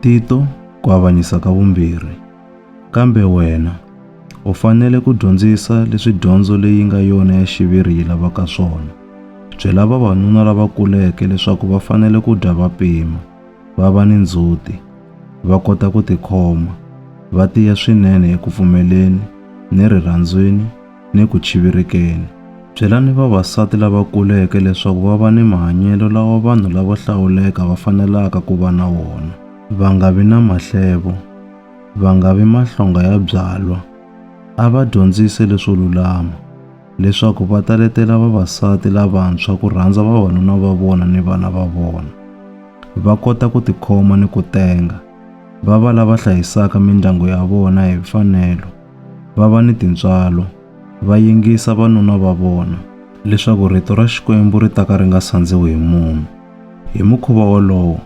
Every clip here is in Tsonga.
Tito, ku avanyisa ka vumbirhi. Kambe wena, u fanele ku dyondzisa leswi dyondzo leyi nga yona ya xiviri yi lavaka swona. Byela vavanuna lava kuleke leswaku va fanele ku dya va pima, va va ni ndzhuti, va kota ku tikhoma, va tiya swinene eku pfumeleni ni rirhandzwini ni ku chivirekeni. Byelani vavasati lava kuleke leswaku va va ni mahanyelo lawa vanhu lavo hlawuleka va fanelaka ku va na wona. Va nga vi na mahlevo. Va nga vi mahlonga ya byalwa. A va dyondzise leswo lulama, leswaku va ta letela vavasati lavantshwa ku rhandza vavanuna va vona ni vana va vona, va kota ku tikhoma ni ku tenga, va va lava hlayisaka mindyangu ya vona hi mfanelo. va va ni tintswalo, va yingisa vanuna va vona, leswaku rito ra Xikwembu ri ta ka ri nga sandziwi hi munhu. Hi mukhuva wolowo,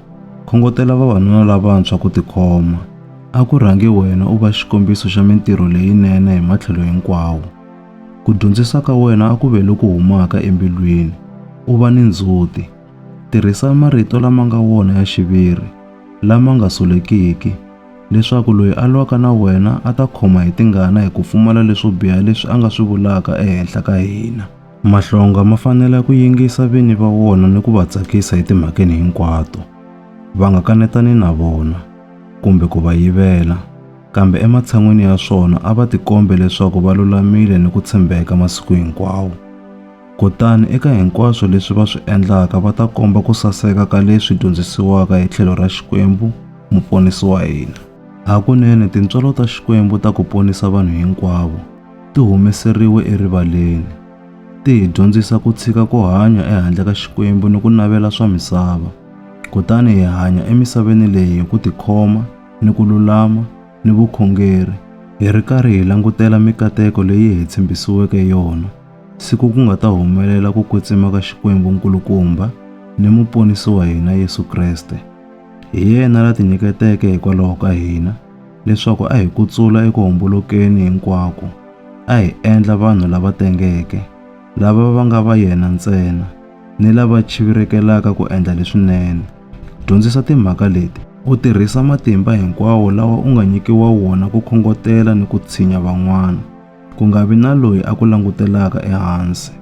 khongotela vavanuna lavantshwa ku tikhoma. A ku rhangi wena u va xikombiso xa mintirho leyinene hi matlhelo hinkwawo. Ku dyondzisa ka wena a ku ve loku humaka embilwini, u va ni ndzhuti. Tirhisa marito lama nga wona ya xiviri, lama nga solekiki, leswaku loyi a lwaka na wena a ta khoma hi tingana hi ku pfumala leswo biha leswi a nga swi vulaka ehenhla ka hina. Mahlonga ma fanele ku yingisa vini va wona ni ku va tsakisa etimhakeni hinkwato, va nga kanetani na vona kumbe ku va yivela, kambe ematshan'weni ya swona a va tikombe leswaku va lulamile ni ku tshembeka masiku hinkwawo. Kutani eka hinkwaswo leswi va swi endlaka va ta komba ku saseka ka leswi dyondzisiwaka hi tlhelo ra Xikwembu, Muponisi wa hina. Hakunene tintswalo ta Xikwembu ta ku ponisa vanhu hinkwavo ti humeseriwe erivaleni. Ti hi dyondzisa ku tshika ku hanya ehandle ka Xikwembu ni ku navela swa misava, kutani hi hanya emisaveni leyi hi ku tikhoma ni ku lulama ni vukhongeri, hi ri karhi hi langutela mikateko leyi hi tshembisiweke yona. siku ku nga ta humelela ku kwetsima ka Xikwembu nkulukumba ni muponisi wa hina Yesu Kreste. Hi yena la tinyiketeke hikwalaho ka hina leswaku a hi kutsula eku hombolokeni hinkwako a hi endla vanhu lava tengeke lava va nga va yena ntsena ni lava chivirekelaka ku endla leswinene. Dyondzisa timhaka leti. U tirhisa matimba hinkwawo lawa u nga nyikiwa wona ku khongotela ni ku tshinya van'wana. Ku nga vi na loyi a ku langutelaka ehansi.